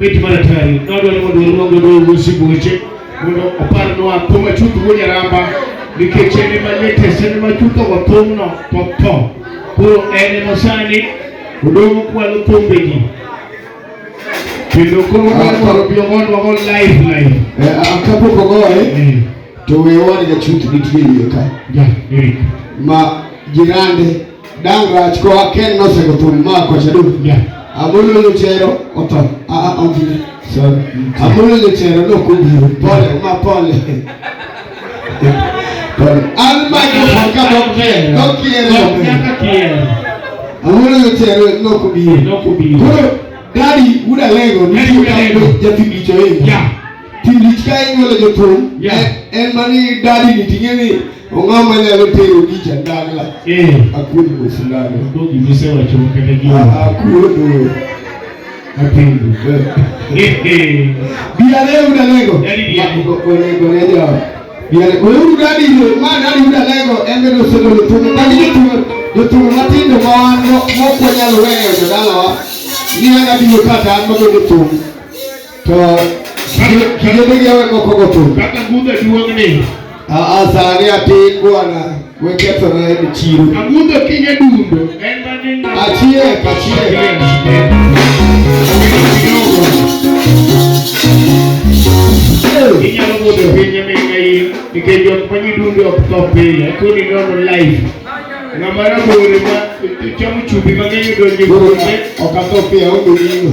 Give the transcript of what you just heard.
Bet mar atari nadwaro mondo waluongo dogo sibuoche mondo oparnwa thum achuth wuo nyaramba nikech en ema latest en ema chuthogo thumno to tho koro en ema sani odong' kwalo thumbegi kendo koro wadwaro biyo mondo wagol live live Eh, ah, kapok ogoye Eh, to wewa ni jachuth nitie iye ka ja Eric ma jirande Dang' rach ko aken nosego thum ma kocha duk nya. Amolo luchero oto. A a obiro. Sorry. Amolo luchero no kubiro. Pole ma pole. Pole. An ma ko ka no kier. No kier. Nyaka kier. Amolo luchero no kubiro. No kubiro. Koro dadi uda lego ni uda lego jatibicho yeye. Yeah. Timlich ka inyuolo jothum en mani dadi ni ting'e ni ong'aw ma nyalo tero gi jandagla eh. akuodo mosindano gisewacho kata gi akuodo apendu biare udalego onego ne jo biare ouru dadi yo ma dadi udalego en bende osegolo thum kagi jothum jothum matindo ma wan mokwanyalo weyo jodalawa ni an abiro kata an mabedo thum To kinde migawe moko go to. Kaka gudhe duong' ni. Aa sani atin bwana wekethona e chiro. Agudho kinye dundo. Achiek achiek. Inyalo budho pinye ming'a in nikech jok manyi dundo ok tho pile. Kuni nono life. Ng'ama rabore ma chamo chumbi mang'eny odonje kuome ok atho piyo odong'ino.